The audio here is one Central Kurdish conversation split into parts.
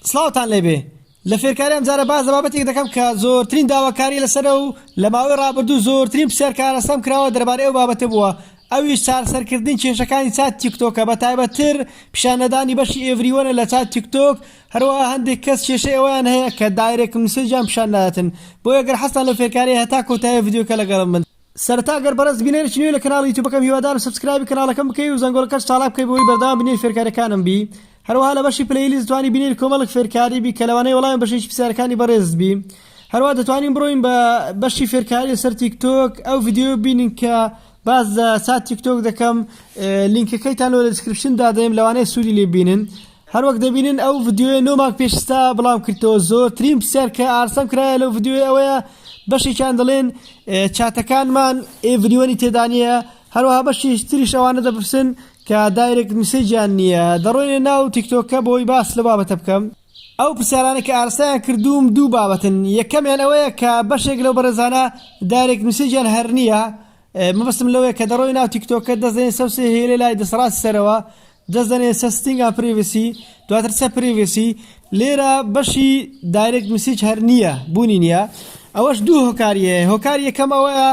سڵاوتان لێبێ لە فێرکاری ئەمجارە باس لە بابەتێک دەکەم کە زۆرترین داواکاری لەسەرە و لە ماوەی ڕابردوو زۆرترین پرسیار کارەسام کراوە دەربارەی ئەو بابەتە بووە ئەویش چارەسەرکردنی کێشەکانی چات تیکتۆکە بە تایبەتتر پیشان نەدانی بەشی ئێڤریوەنە لە چات تیکتۆک هەروەها هەندێک کەس کێشەی ئەوەیان هەیە کە دایرێکت مسێجیان پیشان ناداتن بۆیە گەر حەزتان لەو فێرکاریە هەتا کۆتایی ڤیدیۆکە لەگەڵم بن سەرەتا گەر بەڕێز بینەرێکی نوێی لە کەناڵی یوتوبەکەم هیوادارم سەبسکرایبی کەناڵەکەم بکەی و زەنگۆڵەکەش چاڵاک بکەی بەوەی بەردەوام بینەری فێرکاریەکانم بی هەروەها لە بەشی پلەی لیست دەتوانی بینەری کۆمەڵک فێرکاری بی کە لەوانەیە وەڵامی بەشێکی پرسیارەکانی بەڕێزت بی هەروە دەتوانین بڕۆین بە بەشی فێرکاری لەسەر تیکتۆک ئەو ڤیددیو بینین کە باز لە سات تیکتۆک دەکەم لینکەکەیتان لۆ لە دیسکرپشن دادەێم لەوانەیە سوودی لێ بینن هەروەک دەبینن ئەو ڤیدیۆیە نۆ مانگ پێش ئیستا بڵاوم کردەوە زۆرترین پرسیار کە ئارسەم کرایە لەو ڤیدیۆی ئەوەیە بەشێکیان دەڵێن چاتەکانمان ئێڤریوەنی تێدا نییە هەروەها بەشی تریش ئەوانە دەپرسن کە دایرێک میسەجیان نییە دەڕۆینە ناو تیکتۆکە بۆی باس لە بابەتە بکەم ئەو پرسیارانە کە ئارسایان کردووم دوو بابەتن یەکەمیان ئەوەیە کە بەشێک لەو بەرەزانە دایرێک میسەجیان هەر نییە مەبستم لەوەیە کە دەڕۆی ناو تیکتۆکە دەستێن سەوسێ هێلێ لای دەسەڵاتی سەرەوە جەستە نێسە ستینگ ئا پریڤسی دواتر سە پریڤسی لێرە بەشی دایرێکت مسیج هەر نییە بوونی نییە ئەوەش دوو هۆکاری هەیە هۆکار یەکەم ئەوەیە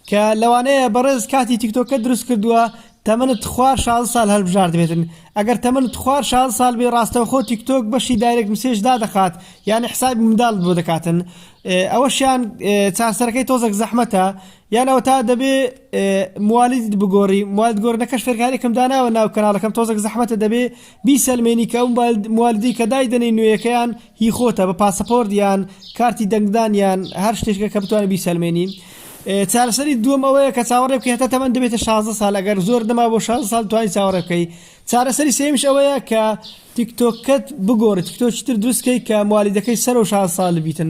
کە لەوانەیە بەڕێز کاتی تیکتۆکە دروست کردووە تەمەنت خوار شازدە سال هەلبژاردبێتن ئەگەر تەمەنت خوار شازدە سال بێ ڕاستەوخۆ تیکتۆک بەشی دایرێکت مسیج دادەخات یانی حسابی منداڵت بۆ دەکاتن ئەوەشیان چارسەرەکەی تۆزەک زەحمەتە یان ئەوەتا دەبێ موالیدت بگۆڕی موالد گۆرنەکەش فێرکارێکم داناوە ناو کەناڵەکەم تۆزەک زەحمەتە دەبێ بیسەلمێنی کە ئەو موالیدی کە دایدەنەی نوێیەکەیان هی خۆتە بە پاسەپۆرت یان کارتی دەنگدانیان هەر شتێکە کە بتوانانی بیسەلمێنی چارەسەری دووەم ئەوەیە کە چاوەڕێ بکە هێتا تەمەەن دەبێتە 16 سال ئەگەر زۆر دەما بۆ 16 سال توانی چاوەڕێ بکەی چارەسەری سێمیش ئەوەیە کە تیکتۆکەت بگۆڕی تیکتۆچتر دروستکەی کە موالیدەکەی سەر و 16 سال بیتن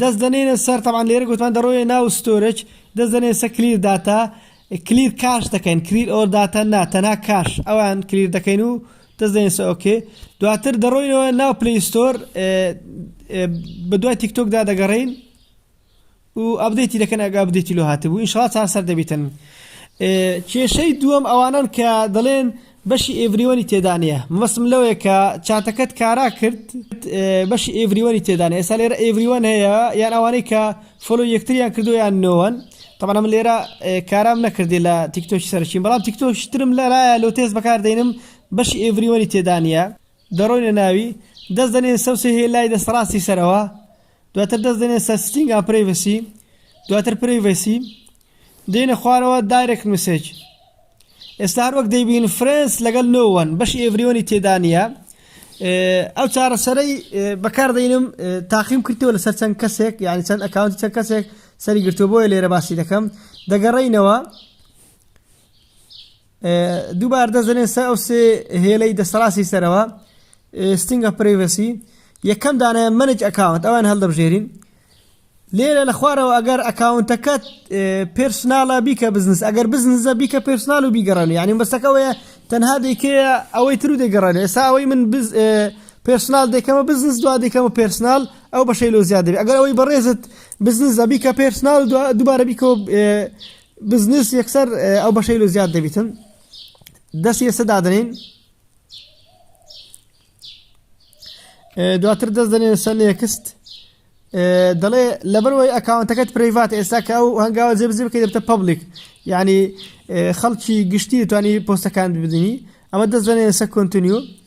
دەست دەنێنە سەر تەبعەن لێرە گۆتمان دەڕۆیە ناو ستۆرج دەست دەنێنە سەر کلیر داتا کلیر کاش دەکەین کریر ئۆر داتا نا تەنها کاش ئەوان کلیر دەکەین و دەست دەنێن سە ئۆکێ دواتر دەڕۆینەوە ناو پلی ستۆر بە دوای تیکتۆکدا دەگەڕین و ئەبدەیتی دەکەن ئەگە ئەبدەیتی لۆ هاتبوو ئینشڵا چارسەر دەبیتن کێشەی دووەم ئەوانن کە دەڵێن بەشی ئێڤریوەنی تێدا نیە. مەبەستم لەوەیە کە چاتەکەت کارا کرد بەشی ئێڤریوەنی تێدا نیە ئێستا لێرە ئێڤریوەن هەیە یان ئەوانەی کە فۆلۆی یەکتریان کردووە یان نۆوەن تەبەنە من لێرە کارام نەکردی لە تیکتۆکی سەرچین بەڵام تیکتۆکی ترم لەرایە لۆ تێز بەکار دێنم بەشی ئێڤریوەنی تێدا نیە دەڕۆینە ناوی دەست دەنێن سەوسێ هێلای دەستەڕاستی سەرەوە دواتر دەست دێنێ سەر ستینگ ئا پرەیڤەسی دواتر پرەیڤەسی دێنە خوارەوە دایرێک مسێج ئێستا هەر وەک دەیبین فرێنس لەگەڵ نۆوەن بەشی ئێڤریۆنی تێدانە ئەو چارەسەرەی بەکاردەینم تاقیم کردەوە لەسەر چەند کەسێک یعنی چەند ئەکاونتی چەند کەسێک سەری گرتووە بۆیە لێرە باسی دەکەم دەگەڕینەوە دووبار دەست دەنێن سەر ئەو سێ هێلەی دەستەڕاستی سەرەوە ستینگ ئە پرەیڤەسی یەکەم دانایە مەنج ئەکاونت ئەوان هەڵدەبژێرین لێرە لە خوارەوە ئەگەر ئەکاونتەکەت پرسناڵە بیکە بزنس ئەگەر بزنزە بیکە پرسنال و بیگەڕێن یعنی بەستەکەەوەە تەنها دەیکێ ئەوەی تر و دەگەڕێن ئێستا ئەوەی من پرسنال دەکەمە بزنس دو دەکەمە پرسنال ئەو بەشەی لۆ زیاد دەبێت ئەگەر ئەوەی بەڕێزت بزنس زەبیکە پرسنال دوبارە بیکە بزنس یەکسەر ئەو بەشەی لە زیاد دەبیتن دەست یەسە دادنین دواتر دەست دەنێن سەر نێکست دەڵێ لەبەرەوەی ئەکاونتەکەت پرەیڤات ئێستا کە ئەو هەنگاوە جێ بزی بکەی دەبتە پبلیک ینی خەڵکی گشتی توانی پۆستەکان بدنی ئەمە دەست دەنێن سە کنتنیو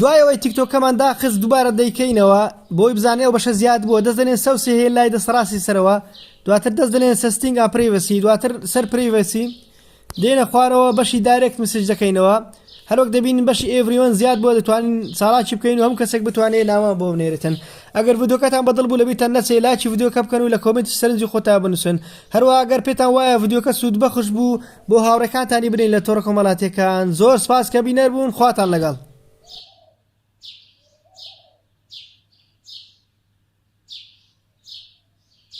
دوای ئەوەی تیکتۆکەمان داخست دوبارە دەیکەینەوە بۆی بزانین ئەو بەشە زیاد بوە دەست دەنێن سەو سێ هەیە لای دەست ڕاستی سەرەوە دواتر دەست دەنێن سستینگ ئاپریڤسی دواتر سەر پریڤسی دێنە خوارەوە بەشی دارێکت مسج دەکەینەوە هەروەک دەبین بەشی ئێڤریۆن زیاد بۆ دەتوانین ساڵاکی بکەین و هەم کەسێک بتوانێت ناوە بۆ بنێرێتن ئەگەر ڤیدۆکەتان بەدڵ بوو لەبیتان نەچێ لاکی ڤیدۆکە بکەن و لە کۆمنتی سەرنجی خۆتا بنووسن هەروە ئەگەر پێتان وایە ڤیدۆکە سوود بەخش بوو بۆ هاوڕێکانتانی بنێن لە تۆڕە کۆمەڵاتیەکان زۆر سپاس کە بینەر بوون خواتان لەگەڵ